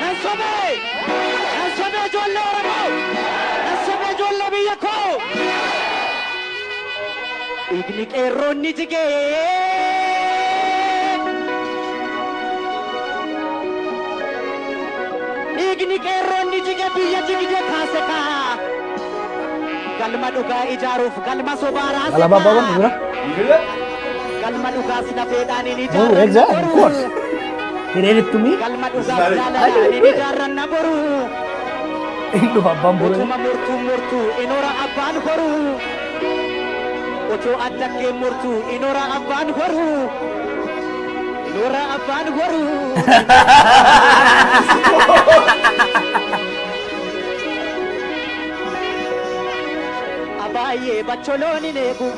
Nan sobee! Nan sobee ijoollee Oromoo! Nan sobee ijoollee biyya koo! Dhiigni qeerroon ni jigee! Dhiigni qeerroon ni jige biyya jigde kaase kaa! Galma dhugaa ijaaruuf galma sobaa raase Alaba kaa! Baba, Mira. Galma dhugaas lafeedhaan hin Ooh, ijaarrannu exactly, of garuu. course. Hireerittumii. Galma dhugaaf jaalala ani ni jaarranna boru. Hin dhufa abbaan boruu. Utuma mortuu mortuu inora abbaan boru. Otoo addaggeen mortuu inora abbaan boru. Inora abbaan boru. Abaay'ee bacholoon hin eegu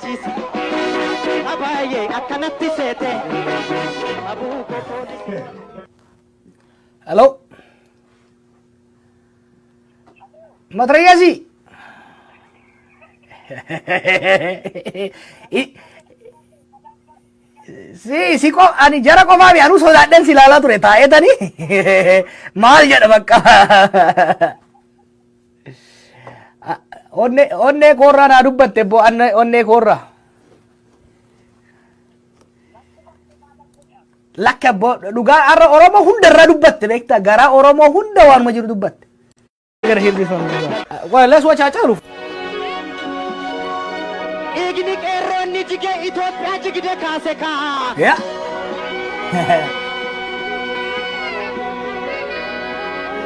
Ciisi abaaye akkanatti seete abuu koo poolisii. Hello. Matrayasi. si si ko ani jara qofa mi anu sodaadhen si ilaalaa ture taa'eetani maal jedha bakka Onnee onnee koorraa naa dubbatte boo anna onnee koorraa. Lakka boo dhugaa har'a Oromoo hunda irra dubbatte beektaa garaa Oromoo hunda waanuma jiru dubbatte. Well, let's watch Haacaaluu. Dhiigni qeerroo inni jige Itoophiyaa jigde kaase kaa.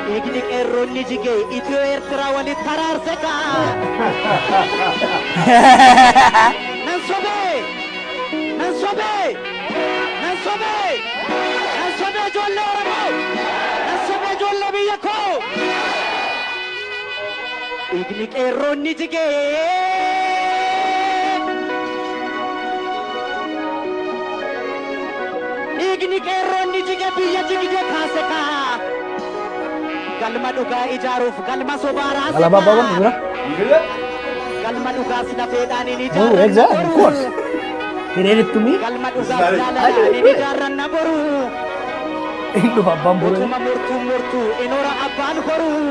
Dhiigni qeerroo inni jige Itiyoo Eertiraa walitti taraarse kaa. Nan sobee! Nan sobee! Nan sobee! Nan sobee ijoollee Oromoo! Nan sobee ijoollee biyya koo! Dhiigni qeerroon ni jige. Dhiigni qeerroon ni jige biyya jigde kaase kaa. Galma dhugaa ijaaruuf galma sobaa raase Galabaa kaa. baban jira. Jira. Galma dhugaa sila feedhaan hin Move, ijaarranna exact, of boruu. course. He read it to me. Galma dhugaa Sorry. jaalalaa hin ijaarranna boruu. Hin dhufa abbaan boree. Utuma murtuu murtuu inoora abbaan horuu.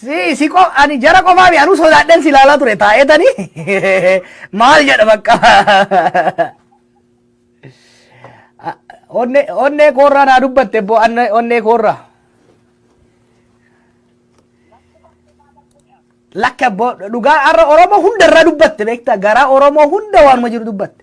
Si si qof ani jara qofaa mi anuu sodaadhen si laalaa ture taa'etani maal jedha bakka onnee onnee koorraa naa dubbatte boo anne onnee koorraa lakka boo dhugaa har'a oromoo hunda irraa dubbatte beektaa garaa oromoo hunda waanuma jiru dubbatte.